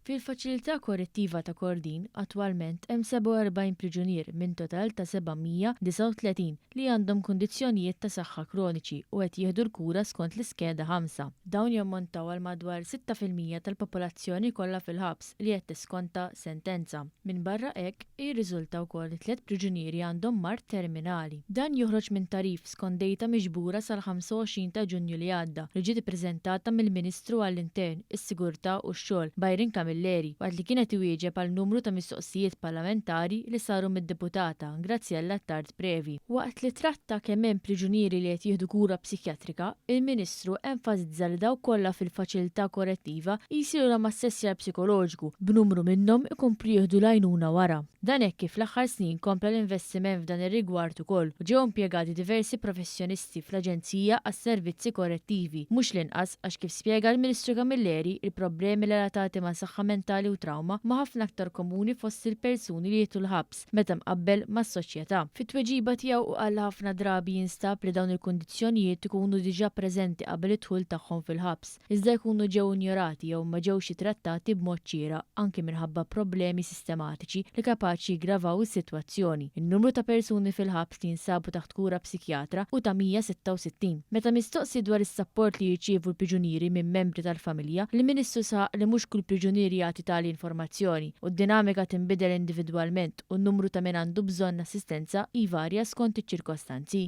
Fil-Faċilità Korrettiva ta' Kordin attwalment hemm 47 priġunier minn total ta' 739 li għandhom kundizzjonijiet ta' saħħa kroniċi u qed jieħdu l-kura skont l-Iskeda 5. Dawn jammontaw għal madwar sitta fil-mija tal-popolazzjoni kollha fil-ħabs li qed tiskonta sentenza. Minbarra hekk, Jirriżulta wkoll li tliet priġunieri għandhom mard terminali. Dan joħroġ minn tagħrif skont dejta miġbura sal-25 ta' Ġunju li għadda, li ġiet ippreżentata mill-Ministru għall-Intern, is-Sigurtà u x-Xogħol, Byron Camilleri, waqt li kien qed iwieġeb għal numru ta' mistoqsijiet parlamentari li saru mid-Deputata Graziella Attard Previ. Waqt li tratta kemm hemm priġunieri li qed jieħdu kura psikjatrika, il-Ministru, Ministru enfasizza li dawk kollha fil-faċilità korrettiva jsilulhom assessjar psikoloġiku, b'numru minnhom ikomplu jieħdu l-għajnuna wara. Dan hekk kif fl-aħħar snin kompla l-investiment f'dan ir-rigward ukoll u ġew impjegati diversi professjonisti fl-Aġenzija għas-Servizzi Korrettivi, mhux l-inqas għax kif spjega l-Ministru Camilleri, il-problemi relatati ma' saħħa mentali u trawma huma ħafna aktar komuni fost il-persuni li jidħlu l-ħabs. meta mqabbel mas-soċjetà. Fit-tweġiba tiegħu hu qal li ħafna drabi jinstab li dawn il-kundizzjonijiet ikunu diġà preżenti qabel id-dħul tagħhom fil-ħabs, iżda jkunu ġew injorati jew ma ġewx ittrattati b'mod xieraq, anki minħabba problemi sistematiċi li kapaċi jiggravaw is-sitwazzjoni. In-numru ta' persuni fil-ħabs li jinsabu taħt kura psikjatra hu ta' 166. Meta mistoqsi dwar is-sapport li jirċievu l-priġunieri minn membri tal-familja, l-Ministru saħaq li mhux kull priġunier jagħti tali informazzjoni. u d-dinamika tinbidel individwalment u n-numru ta' min għandu bżonn assistenza jvarja skont iċ-ċirkostanzi.